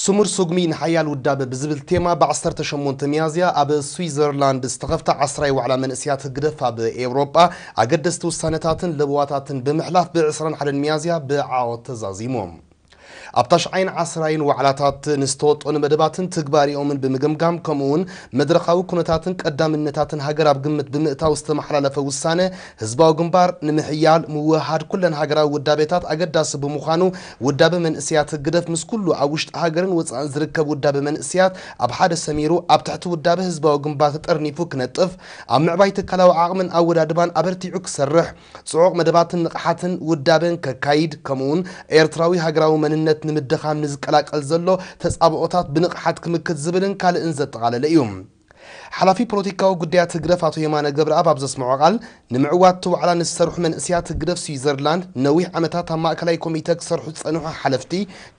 ስሙር ስጉሚ ንሓያል ውዳበ ብዝብል ቴማ ብ ዓሰርተ ሸሞንተ ሚያዝያ ኣብ ስዊዘርላንድ ዝተኸፍተ ዓስራይ ዋዕላ መንእሰያት ህግደፍ ኣብ ኤውሮጳ ኣገደስቲ ውሳነታትን ለበዋታትን ብምሕላፍ ብ ዕስራን ሓደን ሚያዝያ ብዓወት ተዛዚሙ። ኣብ ታሽዓይን ዓስራይን ዋዕላታት ንዝተወጠኑ መደባትን ትግባሬኦምን ብምግምጋም ከምኡ'ውን መድረኻዊ ኩነታትን ቀዳምነታትን ሃገር ኣብ ግምት ብምእታው ዝተመሓላለፈ ውሳነ ህዝባዊ ግንባር ንምሕያል ምውህሃድ ኩለን ሃገራዊ ውዳቤታት ኣገዳሲ ብምዃኑ ውዳበ መንእሰያት ህግደፍ ምስ ኩሉ ኣብ ውሽጢ ሃገርን ወጻእን ዝርከብ ውዳበ መንእሰያት ኣብ ሓደ ሰሚሩ ኣብ ትሕቲ ውዳበ ህዝባዊ ግንባር ተጠርኒፉ ክነጥፍ ኣብ ምዕባይ ትካላዊ ዓቕምን ኣወዳድባን ኣበርቲዑ ክሰርሕ ጽዑቕ መደባትን ንቕሓትን ውዳበን ከካይድ ከምኡውን ኤርትራዊ ሃገራዊ መንነት ንምድኻም ንዝቀላቀል ዘሎ ተጻብኦታት ብንቕሓት ክምክት ዝብልን ካልእን ዘጠቓለለ እዩ። ሓላፊ ፖለቲካዊ ጉዳያት ህግደፍ ኣቶ የማነ ገብረኣብ ኣብ ዘስመዖ ቃል፣ ንምዕዋት እቲ ዋዕላ ንዝሰርሑ መንእሰያት ህግደፍ ስዊዘርላንድ፣ ነዊሕ ዓመታት ኣብ ማእከላይ ኮሚተ ክሰርሑ ዝጸንሑ ሓለፍቲ፣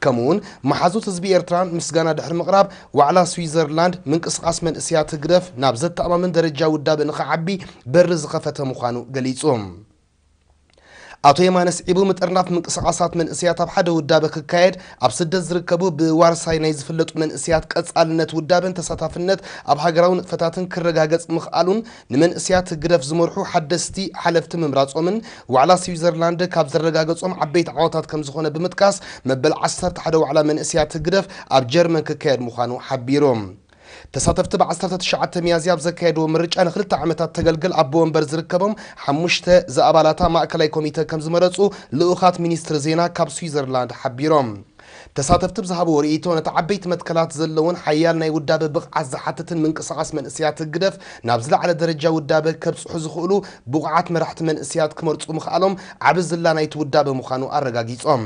ከምኡ'ውን መሓዙት ህዝቢ ኤርትራ ምስጋና ድሕሪ ምቕራብ፣ ዋዕላ ስዊዘርላንድ፣ ምንቅስቓስ መንእሰያት ህግደፍ ናብ ዘተኣማምን ደረጃ ውዳበ ንኽዓቢ በሪ ዝኸፈተ ምዃኑ ገሊጹ። ኣቶ የማነ ስዒቡ ምጥርናፍ ምንቅስቓሳት መንእሰያት ኣብ ሓደ ውዳበ ክካየድ ኣብ ስደት ዝርከቡ ብዋርሳይ ናይ ዝፍለጡ መንእሰያት ቀጻልነት ውዳበን ተሳታፍነት ኣብ ሃገራዊ ንጥፈታትን ክረጋገጽ ምኽኣሉን ንመንእሰያት ህግደፍ ዝመርሑ ሓደስቲ ሓለፍቲ ምምራጾምን ዋዕላ ስዊዘርላንድ ካብ ዘረጋገጾም ዓበይቲ ዓወታት ከም ዝኾነ ብምጥቃስ መበል ዓሰርተ ሓደ ዋዕላ መንእሰያት ህግደፍ ኣብ ጀርመን ክካየድ ምዃኑ ሓቢሩ። ተሳተፍቲ ብ ዓሰርተ ትሽዓተ ሚያዝያ ኣብ ዘካየድዎ ምርጫ ንክልተ ዓመታት ተገልግል ኣቦ ወንበር ዝርከቦም ሓሙሽተ ዝኣባላታ ማእከላይ ኮሚተ ከምዝመረጹ ልኡኻት ሚኒስትሪ ዜና ካብ ስዊዘርላንድ ሓቢሮም። ተሳተፍቲ ብዝሃብዎ ርእይቶ ነቲ ዓበይቲ መትከላት ዘለዎን ሓያል ናይ ውዳበ ብቕዓት ዝሓትትን ምንቅስቓስ መንእሰያት ህግደፍ ናብ ዝለዓለ ደረጃ ውዳበ ከብጽሑ ዝኽእሉ ብቑዓት መራሕቲ መንእሰያት ክመርጹ ምኽኣሎም ዓቢ ዝላ ናይቲ ውዳበ ምዃኑ ኣረጋጊጾም።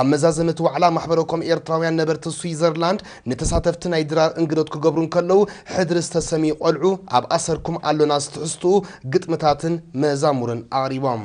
ኣብ መዛዘሚ እቲ ዋዕላ ማሕበረ ኮም ኤርትራውያን ነበርቲ ስዊዘርላንድ ንተሳተፍቲ ናይ ድራር እንግዶት ክገብሩ እንከለዉ ሕድሪ ዝተሰምዩ ቆልዑ ኣብ ኣሰርኩም ኣሎና ዝትሕዝትኡ ግጥምታትን መዛሙርን ኣቕሪቦም።